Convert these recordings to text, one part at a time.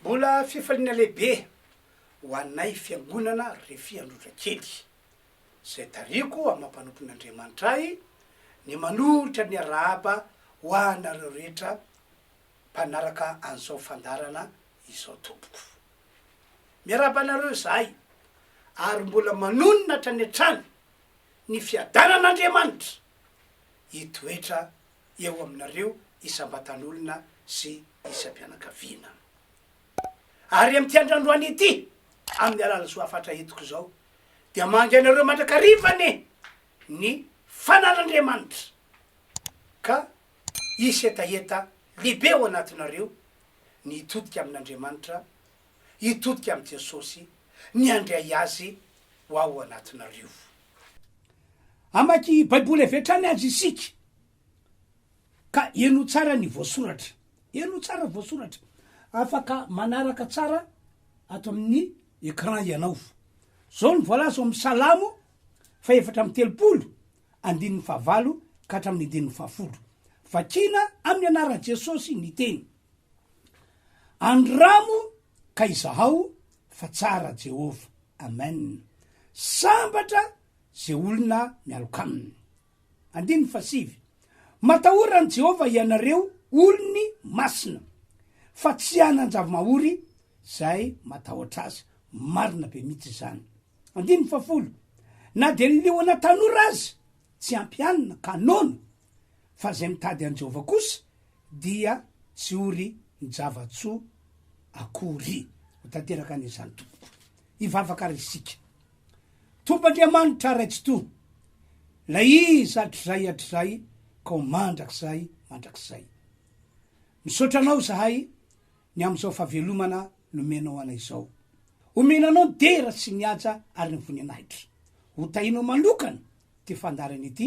Mbola fifaliana lehibe ho anay fiangonana Refy Androtrakely, izay tarihiko amam-panompon'Andriamanitra ahy, ny manolotra ny arahaba ho anareo rehetra mpanaraka an'izao fandaharana izao tompoko. Miarahaba anareo izahay ary mbola manonona hatrany hatrany ny fiadanan'Andriamanitra hitoetra eo aminareo isam-batanolona sy isam-pianakaviana. Ary amin'ity andro androany ity, amin'ny alalan'ny soa hafatra entiko izao, dia mangy anareo mandrakariva anie ny fanan'Andriamanitra, ka hisy hetaheta lehibe ao anatinareo, ny hitodika amin'Andriamanitra hitodika amin'i Jesosy ny handray azy ho ao anatinareo. Hamaky Baiboly avy hatrany aza isika, ka heno tsara ny voasoratra. Heno tsara voasoratra. Afaka manaraka tsara ato amin'ny écran ianao. Izao no voalaza ao amin'ny Salamo fahefatra amby telopolo, andininy fahavalo ka hatramin'ny andininy fahafolo. Vakina amin'ny anaran'i Jesosy ny teny. Andramo ka izahao fa tsara Jehovah. Amen. Sambatra ze olona mialoka aminy. Andininy fahasivy. Matahora an'i Jehovah ianareo olony masina, fa tsy hanan-java-mahory zay matahotra azy. Marina be mitsy izany. Andininy fahafolo. Na dia ny liona tanora aza tsy ampy hanina ka noana fa izay mitady an'i Jehovah kosa dia tsy ho ry java-tsoa akory. Ho tanteraka any izany tompoko. Hivavaka ary isika. Tompo Andriamanitra Ray Tsitoha, ilay izy hatrizay hatrizay ka ho mandrakizay mandrakizay. Misaotra anao izahay ny amin'izao fahavelomana nomenao anay izao. Omena anao ny dera sy ny haja ary ny voninahitra. Hotahinao manokana ity fandaharana ity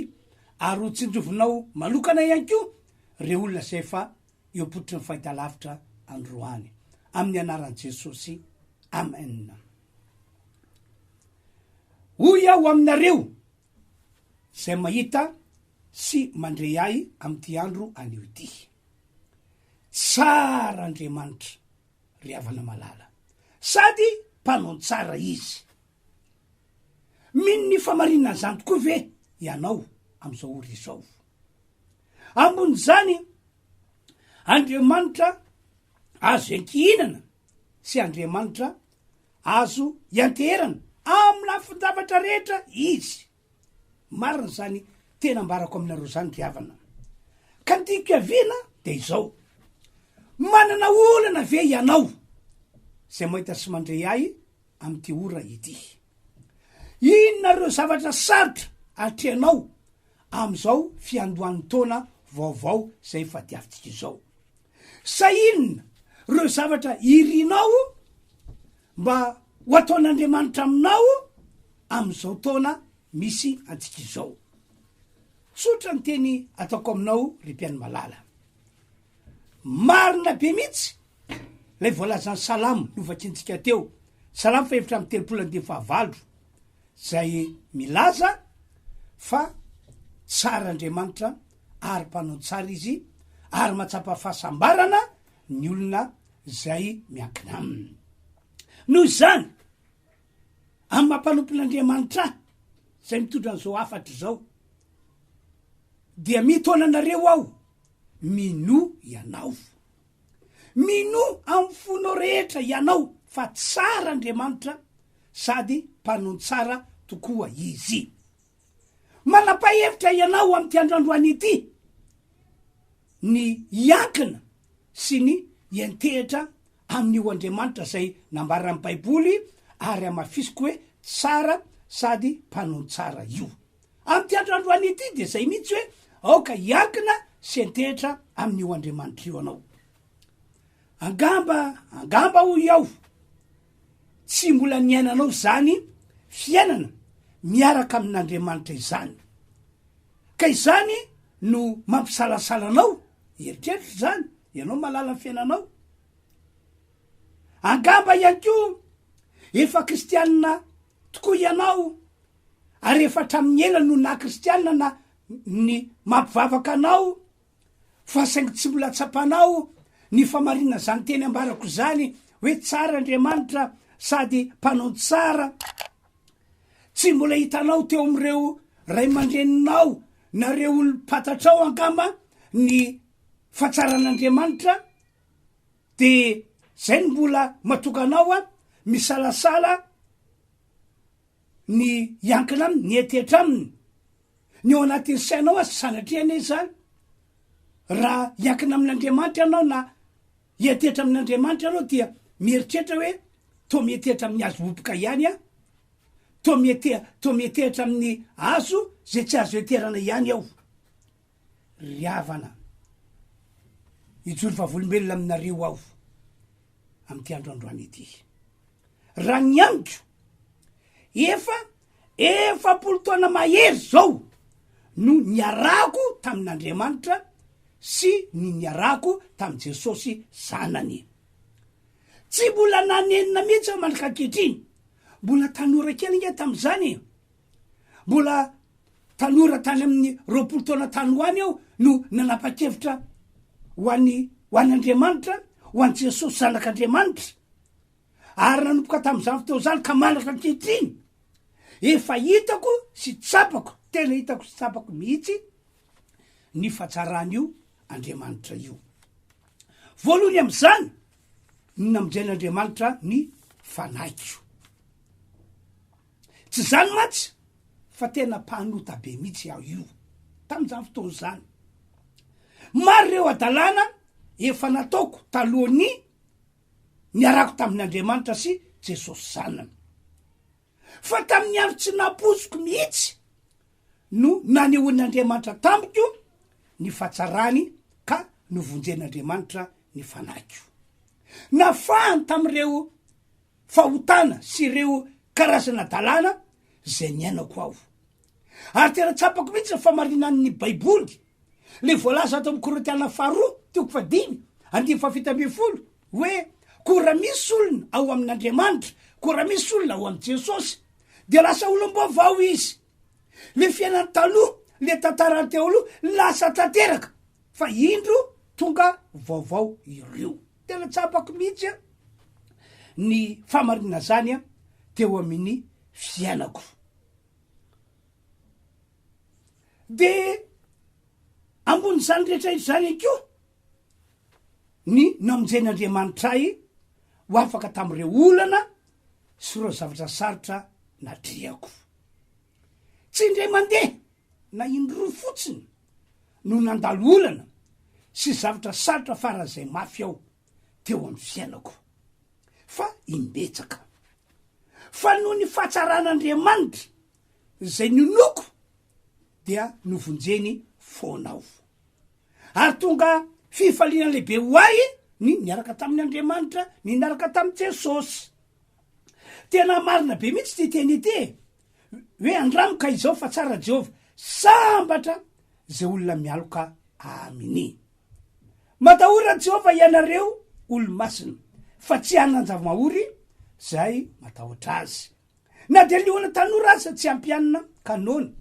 ary ho tsinjovinao manokana ihany koa ireo olona izay efa eo ampototry ny fahitalavitra androany amin'ny anaran'i Jesosy amen hoy aho aminareo izay mahita sy mandre ahy amin'ity andro anio ity tsara Andriamanitra ry havana malala sady mpanao tsara izy Mino ny famarininan'izany tokoa ve ianao amin'izao ora izao? Ambonin'izany, Andriamanitra azo iankihinana sy Andriamanitra azo ianteherana amin'ny lafin-javatra rehetra izy. Marina zany tena ambarako aminareo zany ry havana ka ny tiako hiaviana dia izao manana olana ve ianao zay mahita sy mandre ahy amin'ity ora ity inona reo zavatra sarotra atrehanao amin'izao fiandohan'ny taona vaovao zay efa diavintsika izao sa inona reo zavatra irinao Mba ho ataon'Andriamanitra aminao amin'izao taona misy antsika izao. Tsotra ny teny ataoko aminao ry mpihaino malala. Marina be mihitsy ilay voalazan'ny salamo novakintsika teo, salamo fahefatra amin'ny telopolo andiany fahavalo, izay milaza fa tsara Andriamanitra ary mpanao ny tsara izy ary mahatsapa fahasambarana ny olona izay miankina aminy. Noho izany, amin'ny maha mpanompon'Andriamanitra ahy, izay mitondra an'izao hafatra izao, dia mitaona anareo aho, minoa ianao. Minoa amin'ny fonao rehetra ianao fa tsara Andriamanitra sady mpanon-tsara tokoa Izy. Manapahevitra ianao amin'ity androandroany ity ny hiankina sy ny hiantehitra amin'io Andriamanitra izay nambaran'ny Baiboly ary hamafisiko hoe tsara sady mpanao tsara io. Amin'ity androandroany ity dia izay mihitsy hoe aoka hiankina sy hiantehitra amin'io Andriamanitra io ianao. Angamba, angamba hoy aho, Tsy mbola niainanao izany fiainana miaraka amin'Andriamanitra izany, ka izany no mampisalasala anao? Eritreritra izany, ianao mahalala ny fiainanao. Angamba ihany koa efa kristianina tokoa ianao, ary efa hatramin'ny ela no naha-kristianina na ny mampivavaka anao Fa saingy tsy mbola tsapanao ny famarinana izany teny ambarako izany hoe tsara Andriamanitra sady mpanao ny tsara. Tsy mbola hitanao teo amin'ireo ray aman-dreninao na ireo olom-pantatrao angamba ny fatsaran'Andriamanitra dia izay no mbola matoka anao misalasala ny hiankina aminy, ny hetihetra aminy, ny ao anatin'ny sainao aza, sanatria anie izany, raha hiankina amin'Andriamanitra ianao na hihetihetra amin'Andriamanitra ianao dia mieritreritra hoe toa mihetihetra amin'ny hazo roboka ihany aho, toa miheteha, toa mihetehitra amin'ny hazo izay tsy azo heterana ihany aho. Ry havana, hijoro vavolombelona aminareo aho amin'ity andro androany ity. Raha ny amiko, efa efapolo taona mahery izao no niarahako tamin'Andriamanitra sy ny niarahako tamin'i Jesosy Zanany. Tsy mbola nanenina mihitsy aho mandrak'ankehitriny. Mbola tanora kely ange tamin'izany e. Mbola tanora tany amin'ny roapolo taona tany ho any aho no nanapa-kevitra ho an'i, ho an'Andriamanitra, ho an'i Jesosy Zanak'Andriamanitra, ary nanomboka tamin'izany fotoana izany ka manatra ankehitriny. Efa hitako sy tsapako, tena hitako sy tsapako mihitsy ny fahatsaran'io Andriamanitra io. Voalohany amin'izany ny namonjen'Andriamanitra ny fanahiko. Tsy izany mantsy fa tena mpanota be mihitsy aho io tamin'izany fotoana izany. Maro ireo hadalana efa nataoko talohan'ny niarako tamin'Andriamanitra sy Jesosy Zanany. Fa tamin'ny andro tsy nampoiziko mihitsy no nanehoan'Andriamanitra tamiko ny fahatsarany ka novonjen'Andriamanitra ny fanahiko. Nafahany tamin'ireo fahotana sy ireo karazana dalàna izay niainako aho. Ary tena tsapako mihitsy ny famarinan'ny Baiboly, ilay voalaza ato amin'ny Korintiana Faharoa, toko fahadimy, andinin'ny fahafito ambin'ny folo, hoe, Koa raha misy olona ao amin'Andriamanitra, koa raha misy olona ao amin'i Jesosy, dia lasa olom-baovao izy. Ilay fiainany taloha, ilay tantarany teo aloha, lasa tanteraka, fa indro tonga vaovao ireo. Tena tsapako mihitsy ny famarinana zany teo aminy fiainako. De ambony zany rehetra izany ihany koa ny namonjen' Andriamanitra ahy ho afaka tamin'ireo olana sy ireo zavatra sarotra natrehako. Tsy indray mandeha na indroa fotsiny no nandalo olana sy zavatra sarotra faran'izay mafy aho teo amin'ny fiainako, fa imbetsaka. Fa noho ny fahatsaran'Andriamanitra izay ninoako dia novonjeny foana aho. Ary tonga fifaliana lehibe ho ahy ny niaraka tamin'Andriamanitra, ny niaraka tamin'i Jesosy. Tena marina be mihitsy ity teny ity e! Hoe andramo ka izao fa tsara Jehovah. Sambatra izay olona mialoka Aminy. Matahora Jehovah ianareo olo-masina, fa tsy hanan-java-mahory izay matahotra Azy. Na dia liona tanora aza tsy hampianina ka noana,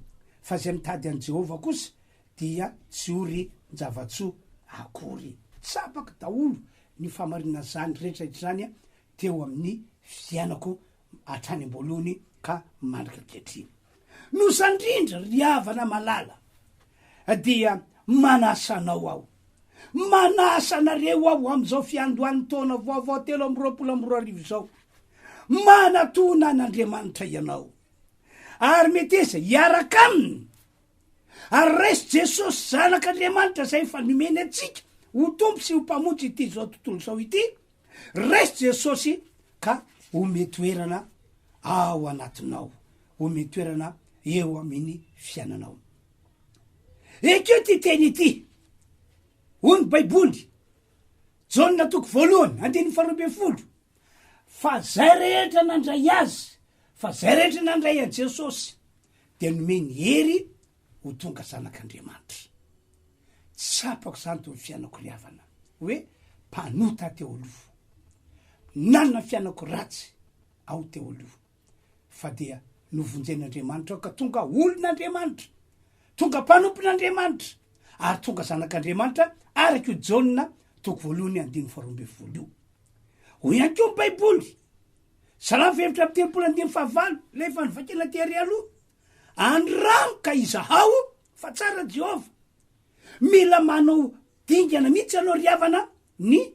fa izay mitady an'i Jehovah kosa dia tsy ho rin-java-tsoa akory. Tsapako daholo ny fahamarinan'izany rehetra izany teo amin'ny fiainako hatrany am-boalohany ka mandrika ankehitriny. Noho izany indrindra, ry havana malala, dia manasa anao aho, manasa anareo aho amin'izao fiandohan'ny taona vaovao telo amby roapolo amby roa arivo izao, manatona an'Andriamanitra ianao, ary meteza hiaraka Aminy, ary raiso Jesosy Zanak'Andriamanitra izay efa nomeny antsika ho Tompo sy ho Mpamonjy ity izao tontolo izao ity, Raiso Jesosy ka ome toerana ao anatinao, ome toerana eo amin'ny fiananao. Ekeo ty teny ity, hoy ny Baiboly, Jaona toko voalohany, andininy faharoa ambin'ny folo, fa zay rehetra nandray azy, fa zay rehetra nandray an'i Jesosy, dia nomeny hery ho tonga zanak'Andriamanitra. Tsapako izany teo amin'ny fiainako ry havana hoe mpanota teo aloha. Nanana fiainako ratsy aho teo aloha fa dia novonjen'Andriamanitra aho ka tonga olon'Andriamanitra, tonga mpanompon'Andriamanitra ary tonga zanak'Andriamanitra araka io Jaona toko voalohany andininy faharoa ambin'ny folo io. Hoy ihany koa ny Baiboly, Salamo fahefatra amby telopolo andininy fahavalo, ilay efa novakina tery aloha, Andramo ka izahao fa tsara Jehovah. Mila manao dingana mihitsy ianao ry havana ny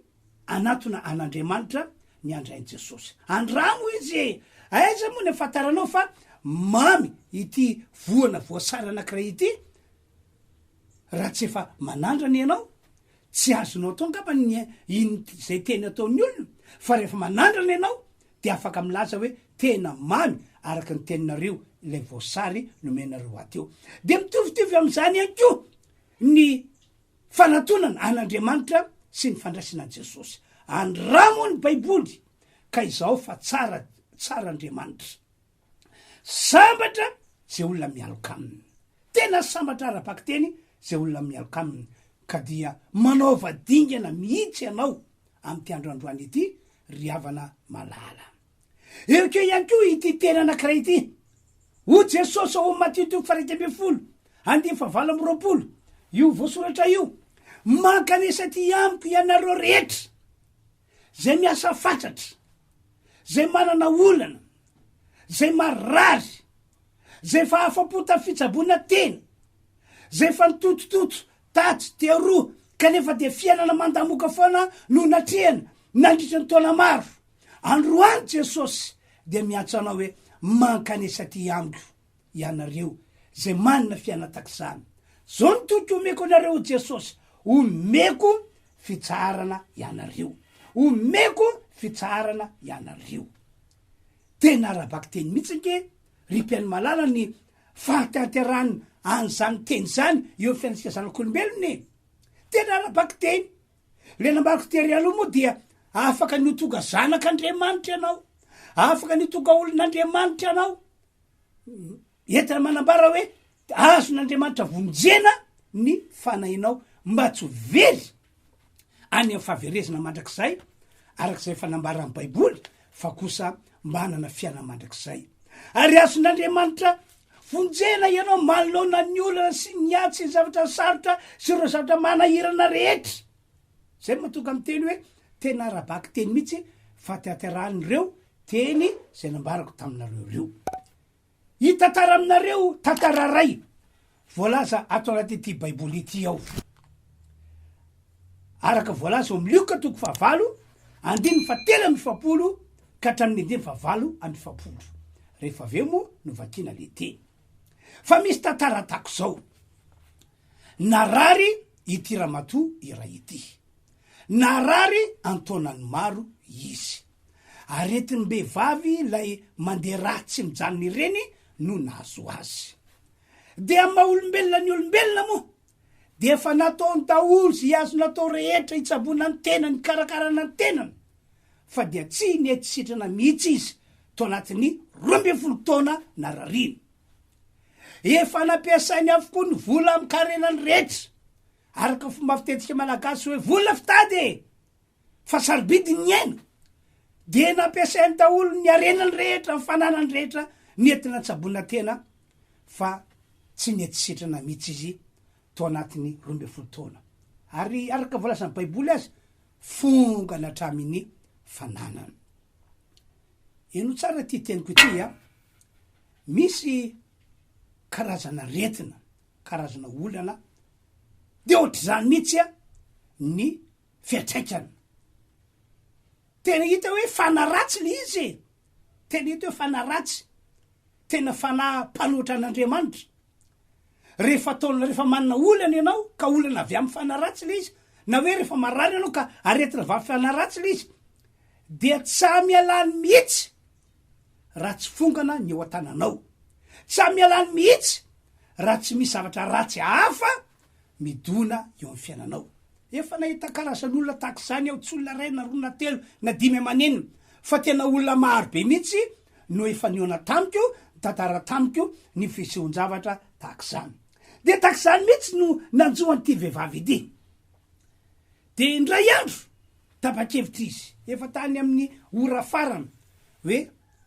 hanatona an'Andriamanitra ny handrain'i Jesosy. Andramo izy e! Aiza moa ny ahafantaranao fa mamy ity voana voasary anankiray ity? Raha tsy efa manandrana ianao, tsy azonao atao angamba ny hino izay teny ataon'ny olona, fa rehefa manandrana ianao dia afaka milaza hoe tena mamy araka ny teninareo ilay voasary nomenareo ahy teo. Dia mitovitovy amin'izany ihany koa ny fanatonana an'Andriamanitra sy ny fandraisana an'i Jesosy. Andramo ny Baiboly ka izahao fa tsara tsara Andriamanitra. Sambatra izay olona mialoka aminy. Tena sambatra ara-bakiteny izay olona mialoka aminy. Ka dia manaova dingana mihitsy ianao amin'ity andro androany ity, ry havana malala. Heokeo ihany koa ity teny anankiray ity. Ho Jesosy ao amin'ny Matio toko faraika ambin'ny folo, andiany fahavalo amby roapolo. Io voasoratra io. Mankanesa aty amiko ianareo rehetra. Zay miasa fatratra, zay manana olana, zay marary, zay efa afa-po tamin'ny fitsaboana tena, zay efa nitotototo tatsy dia aroa kanefa dia fiainana mandamoka foana no natrehany nandritra ny taona maro. Androany Jesosy dia miantso anao hoe, mankanesa aty amiko. ianareo zay manana fianatak'izany. Zao ny toky omeko anareo Jesosy, omeko fitsaharana ianareo, omeko fitsaharana ianareo. Tena ara-bakiteny mihitsy ange ry mpihaino malala ny fahatanterahan an'izany teny izany eo amin'ny fiainantsika zanak'olombelona e! Tena ara-bakiteny. Ilay namariko tery aloha moa dia afaka ny ho tonga zanak'Andriamanitra ianao, afaka ny ho tonga olon'Andriamanitra ianao, Entina manambara hoe azon'Andriamanitra vonjena ny fanahinao mba tsy ho very any amin'ny fahaverezana mandrakizay, araka izay efa nambaran'ny Baiboly, fa kosa mba hanana fiainana mandrakizay. Ary azon'Andriamanitra vonjena ianao manoloana ny olana sy ny ady sy ny zavatra sarotra sy ireo zavatra manahirana rehetra. Izay no mahatonga miteny hoe tena ara-baky teny mihitsy fatiaterahan'ireo teny izay nambarako taminareo ireo. Hitantara aminareo tantara iray voalaza ato anatin'ity Baiboly ity aho. Araka voalaza ao amin'ny Lioka toko fahavalo, andininy fahatelo amby efapolo ka hatramin'ny andininy fahavalo amby efapolo. Rehefa avy eo moa no vakiana ilay teny. Fa misy tantara tahaka izao. Narary ity ramatoa iray ity. Narary an-taonany maro izy. Aretim-behivavy ilay mandeha ra tsy mijanona ireny no nahazo azy. Dia amin'ny maha olombelona ny olombelona moa dia efa nataony daholo izay azony atao rehetra hitsaboana ny tenany, hikarakarana ny tenany fa dia tsy nety sitrana mihitsy izy tao anatin'ny roa ambin'ny folo taona narariany. Efa nampiasainy avokoa ny vola amin'ny karenany rehetra. Araka ny fomba fitetika malagasy hoe vola fitady e! Fa sarobidy ny aina. Dia nampiasainy daholo ny harenany rehetra, ny fananany rehetra nety natsaboina tena fa tsy nety sitrana mihitsy izy tao anatin'ny roa ambin'ny folo taona. Ary araka voalazan'ny Baiboly aza, fongana hatramin'ny fananany. Heno tsara ity teniko ity a! misy karazan'aretina, karazana olana dia ohatr'izany mihitsy ny fiantraikany. Tena hita hoe fanahy ratsy ilay izy e! Tena hita hoe fanahy ratsy, tena fanahy mpanohitra an'Andriamanitra. Rehefa ataonao, rehefa manana olana ianao ka olana avy amin'ny fanahy ratsy ilay izy, na hoe rehefa marary ianao ka aretina avy amin'ny fanahy ratsy ilay izy, dia tsy hamialany mihitsy raha tsy fongana ny eo an-tananao. Tsy amialany mihitsy raha tsy misy zavatra ratsy hafa midona eo amin'ny fiainanao. Efa nahita karazan'olona tahaka izany aho, tsy olona iray na roa na telo na dimy aman'enina fa tena olona maro be mihitsy no efa nihaona tamiko, nitantara tamiko ny fisehoan-javatra tahaka izany. Dia tahaka izany mihitsy no nanjo an'ity vehivavy ity. Dia indray andro, tapa-kevitra izy, efa tany amin'ny ora farany, hoe,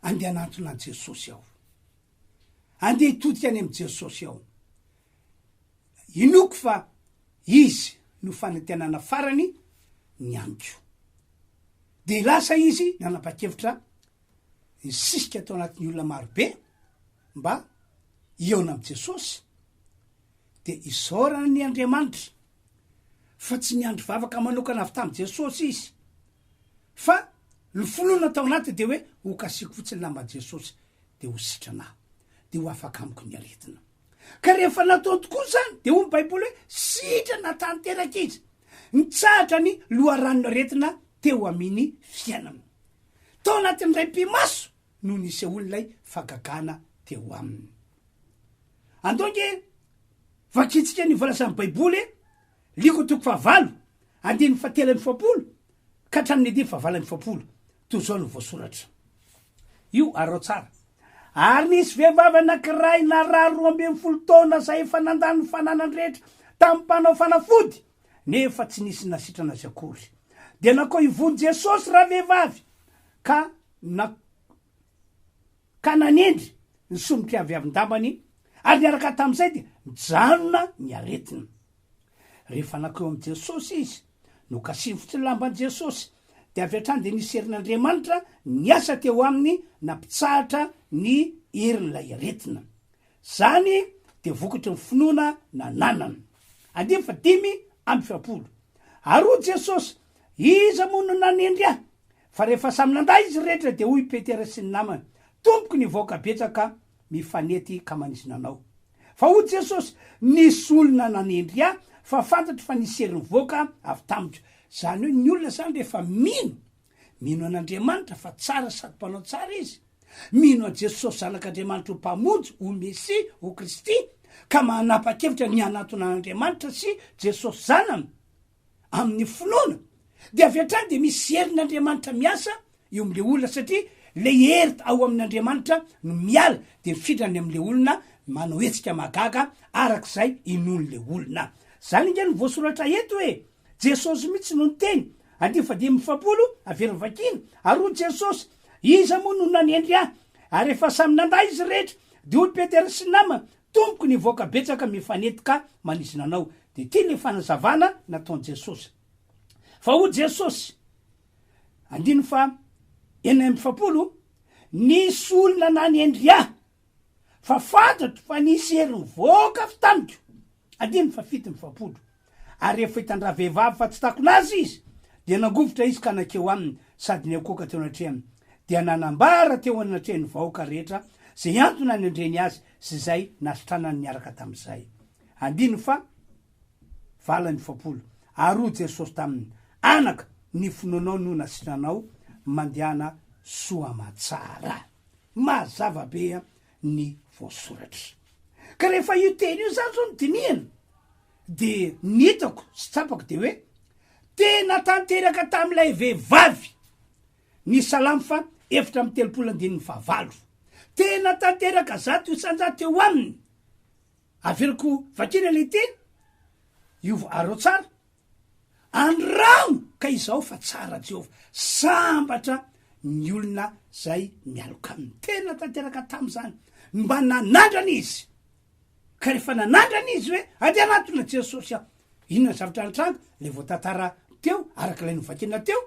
Andeha hanantona an'i Jesosy aho. Andeha hitodika any amin'i Jesosy aho. Inoako fa Izy no fanantenana farany ny amiko. Dia lasa izy nanapa-kevitra hisisika tao anatin'ny olona marobe mba hihaona amin'i Jesosy, dia hisaorana ny Andriamanitra. fa tsy niandry vavaka manokana avy tamin'i Jesosy izy fa ny finoana tao anatiny dia hoe ho kasiako fotsiny lamba Jesosy dia ho sitrana aho dia ho afaka amiko ny aretina ka rehefa nataony tokoa izany dia hoy ny baiboly hoe sitrana tanteraka izy nitsahatra ny loharanon'ny aretina teo amin'ny fiainana tao anatin'ny ray pimaso no nisehoan'ilay fagagana teo aminy Andao ange vakintsika ny voalazan'ny Baiboly e! Liko toko fahavalo, andininy fahatelo amby efapolo ka hatramin'ny andininy fahavalo amby efapolo. Toy izao no voasoratra. Io arao tsara. Ary nisy vehivavy anankiray narary roa ambin'ny folo taona izay efa nandany ny fananany rehetra tamin'ny mpanao fanafody, nefa tsy nisy nasitrana azy akory. Dia nankao ivon'i Jesosy ravehivavy ka na, ka nanendry ny sombim-piaviavin-dambany ary niaraka tamin'izay dia nijanona ny aretina. Rehefa nankeo amin'i Jesosy izy, nokasifotry ny lamban'i Jesosy, dia avy hatrany dia nisy herin'Andriamanitra niasa teo aminy nampitsahatra ny herin'ilay aretina. Izany dia vokatry ny finoana nananany. Andininy fahadimy amby efapolo. Ary hoy Jesosy, Iza moa no nanendry ahy? Fa rehefa samy nandà izy rehetra dia hoy i Petera sy ny namany, Tompoko ny vahoaka betsaka mifanety ka manisy nanao. Fa hoy Jesosy, Nisy olona nanendry ahy fa fantatro fa nisy hery nivoaka avy tamiko. Izany hoe ny olona izany rehefa mino, mino an'Andriamanitra fa tsara sady mpanao tsara izy, mino an'i Jesosy Zanak'Andriamanitra ho Mpamonjy, ho Mesia, ho Kristy, ka manapa-kevitra ny hanatona an'Andriamanitra sy Jesosy Zanany, amin'ny finoana dia avy hatrany dia misy herin'Andriamanitra miasa eo amin'ilay olona satria ilay hery ao amin'Andriamanitra no miala dia mifindra any amin'ilay olona manao hetsika mahagaga araka izay inoan'ilay olona. Izany ange no voasoratra eto e! Jesosy mihitsy no niteny, andiany fahadimy amby efapolo, averiny vakina, Ary hoy Jesosy, Iza moa no nanendry ahy? Ary rehefa samy nandà izy rehetra, dia hoy Petera sy ny namany, Tompoko ny vahoaka betsaka mifanety ka manizina anao de ty le fanazavana nataon Jesosy fa hoy Jesosy andininy faha enina amby efapolo nisy olona nanendry ahy fa fantatro fa nisy hery nivoaka avy tamiko andininy faha fito amby efapolo Ary rehefa hitan-dravehivavy fa tsy takona azy izy, dia nangovitra izy ka nankeo aminy sady niankohoka teo anatrehany, dia nanambara teo anatrehan'ny vahoaka rehetra izay antony nandreny azy sy izay nasitranany niaraka tamin'izay. Andininy faha valo amby efapolo. Ary hoy Jesosy taminy, Anaka, ny finoanao no nasitranao, mandehana soa aman-tsara. Mazava be ny voasoratra. Ka rehefa io teny io izany izao no dinihina, Dia ny hitako sy tsapako dia hoe tena tanteraka tamin'ilay vehivavy ny Salamo faha efatra amby telopolo andininy faha valo. Tena tanteraka zato isan-jato teo aminy. Averiko vakina ilay teny, io areo tsara. Andramo ka izao fa tsara Jehovah, sambatra ny olona izay mialoka aminy. Tena tanteraka tamin'izany, mba nanandrana izy. Ka rehefa nanandrana izy hoe andeha hanatona Jesosy aho, inona ny zavatra nitranga? Ilay voatantara teo, araka ilay novakina teo,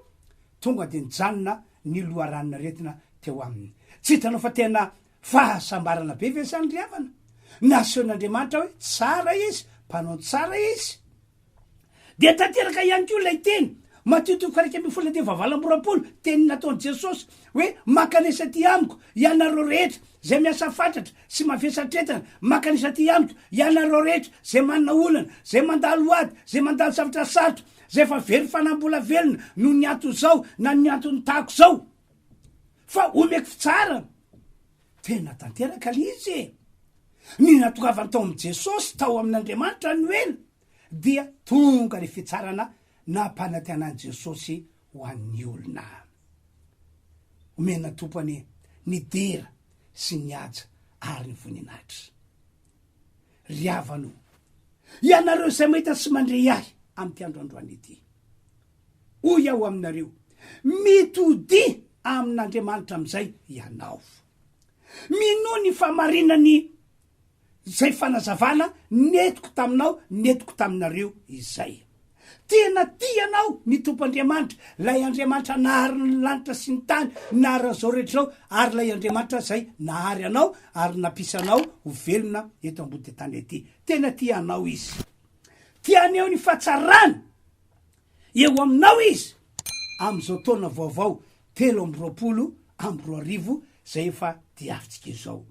tonga dia nijanona ny loharanon-aretina teo aminy. Tsy hitanao fa tena fahasambarana be ve izany ry havana? Nasehon'Andriamanitra hoe tsara izy, mpanao tsara izy. Dia tanteraka ihany koa ilay teny, Matio toko faha-iraika ambin'ny folo andininy fahavalo amby roapolo, teny nataon'i Jesosy, hoe, Mankanesa aty amiko, ianareo rehetra, izay miasa fatratra sy mavesa-tretana, mankanesa aty amiko, ianareo rehetra, izay manana olana, izay mandalo ady, izay mandalo zavatra sarotra, izay efa very fanambola velona noho ny anton'izao na noho ny anton'ny tako izao, fa homeko fitsaharana. Tena tanteraka ilay izy e! Ny natoavany tao amin'i Jesosy, tao amin'Andriamanitra no ela, dia tonga ilay fitsarana nampanantenan'i Jesosy ho an'ny olona. Omenà Tompo anie ny dera sy ny haja ary ny voninahitra. Ry havana o, ianareo izay mahita sy mandre ahy amin'ity androandroany ity. Hoy aho aminareo, mitodia amin'Andriamanitra amin'izay ianao. Minoa ny fahamarinan'ny izay fanazavana nentiko taminao, nentiko taminareo izay. Tena tia anao ny Tompo Andriamanitra, ilay Andriamanitra nahary ny lanitra sy ny tany, nahary an'izao rehetra izao, ary ilay Andriamanitra izay nahary anao ary nampisy anao ho velona eto ambody tany ety. Tena tia anao Izy. Tiany eo ny fahatsarany. Eo aminao izy amin'izao taona vaovao telo amby roapolo amby roa arivo izay efa diavintsika izao.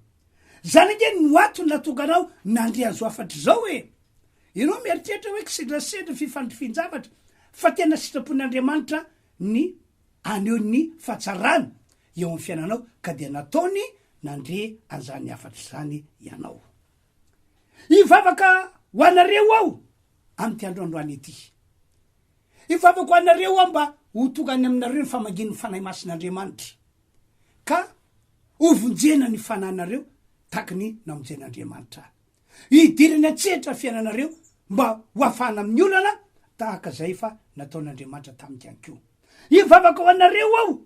Izany ange no antony natongana aho nandre an'izao hafatra izao e! Ianao mieritreritra hoe kisendrasendra, fifandrifian-javatra, fa tena sitrapon'Andriamanitra ny haneho ny fahatsarany eo amin'ny fiainanao ka dia nataony nandre an'izany hafatra izany ianao. Hivavaka ho anareo aho amin'ity androandroany ity. Hivavaka ho anareo aho mba ho tonga any aminareo ny famangian'ny Fanahy Masin'Andriamanitra, ka hovonjena ny fananareo tahaka ny namonjen'Andriamanitra ahy. Hidirany an-tsehatra ny fiainanareo mba hoafahana amin'ny olana tahaka izay efa nataon'Andriamanitra tamiko ihany koa. Hivavaka ho anareo aho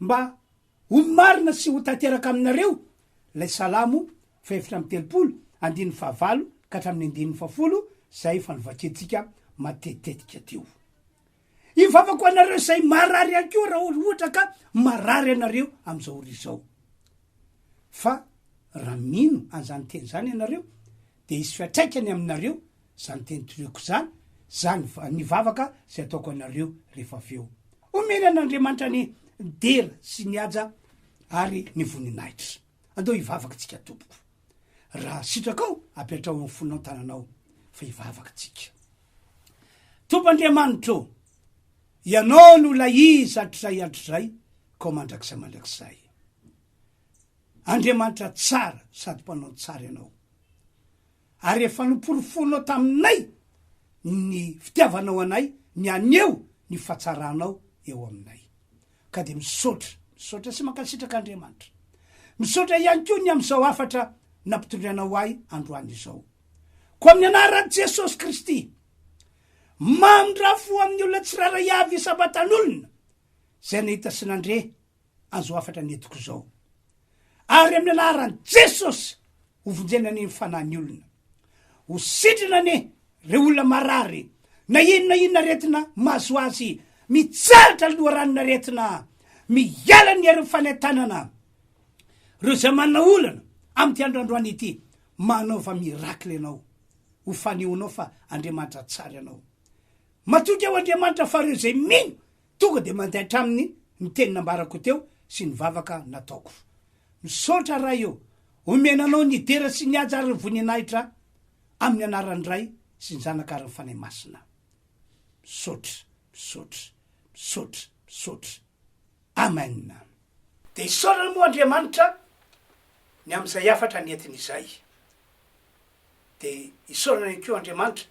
mba. Ho marina sy ho tanteraka aminareo ilay Salamo fahefatra amby telopolo, andininy fahavalo ka hatramin'ny andininy fahafolo, izay efa novakiantsika matetitetika teo. Hivavako ho anareo izay marary ihany koa raha ohatra ka marary ianareo amin'izao ora izao. Fa raha mino an'izany teny izany ianareo dia hisy fiatraikany aminareo izany teny toloko izany, izany ny vavaka izay ataoko anareo rehefa avy eo. Omena an'Andriamanitra ny dera sy ny haja ary ny voninahitra. Andao hivavaka isika tompoko. Raha sitrakao, apetraho amin'ny fonao ny tananao fa hivavaka isika. Tompo Andriamanitra ô, Ianao no ilay izy hatrizay hatrizay, koa mandrakizay mandrakizay. Andriamanitra tsara sady mpanao ny tsara ianao, ary efa noporofoinao taminay ny fitiavanao anay ny haneho ny fahatsaranao eo aminay. Ka dia misaotra, misaotra sy mankasitraka Andriamanitra. Misaotra ihany koa ny amin'izao hafatra nampitondrainao ahy androany izao. Koa amin'ny anaran'i Jesosy Kristy, mamindrafo amin'ny olona tsirairay avy isam-batan'olona izay nahita sy nandre Azo hafatra ny entiko izao. Ary amin'ny anaran'i Jesosy, hovonjena anie ny fanahin'ny olona. Ho sitrana anie ireo olona marary, na inona inona aretina mahazo azy, mitsahatra ny loharanon'ny aretina, miala ny herin'ny fanentanana. Ireo izay manana olana amin'ity andro androany ity, manaova miracle ianao. Ho fanehonao fa Andriamanitra tsara ianao. Matoky aho Andriamanitra fa ireo izay mino Tonga dia mandeha hatramin'ny ny teny nambarako teo sy ny vavaka nataoko. Misaotra Ray ô! Omena Anao ny dera sy ny haja ary ny voninahitra amin'ny anaran'ny Ray sy ny Zanaka ary ny Fanahy Masina. Misaotra, misaotra, misaotra, misaotra. Amen. Dia isaorana moa Andriamanitra ny amin'izay hafatra nentiny izay. dia isaorana ihany koa Andriamanitra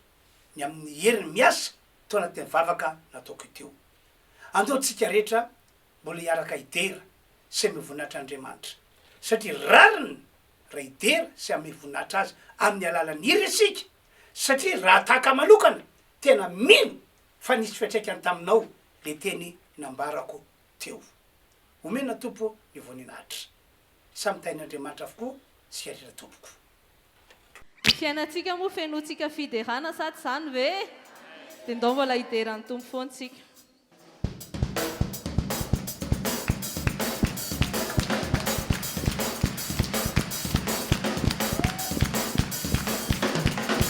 ny amin'ny heriny miasa tao anatin'ny vavaka nataoko iteo. Andao tsika rehetra mbola hiaraka hidera sy hame voninahitra Andriamanitra, satria rariny raha hidera sy hame voninahitra Azy amin'ny alalan'ny hira isika, satria raha tahaka manokana tena mino fa nisy fiatraikany taminao le teny nambarako teo. Omena Tompo ny voninahitra. Samy tahin'Andriamanitra avokoa tsika rehetra tompoko. Ny fiainantsika moa fenointsika fiderana sa tsy izany ve? Dia ndao mbola hidera ny Tompo foana isika.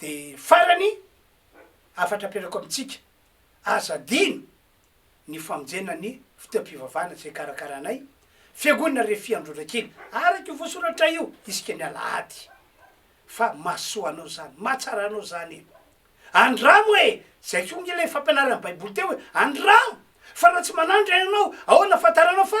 De farany, hafatra apetrako amintsika, aza adino ny famonjena ny fotoam-pivavahana izay karakarainay, Fiangonana Refy Androndrakely, araka io voasoratra io, isika ny alahady. Fa mahasoa anao izany, mahatsara anao izany e! Andramo e! Izay koa nge ilay fampianaran'ny Baiboly teo hoe, andramo! Fa raha tsy manandra ianao, ahoana ahafantaranao fa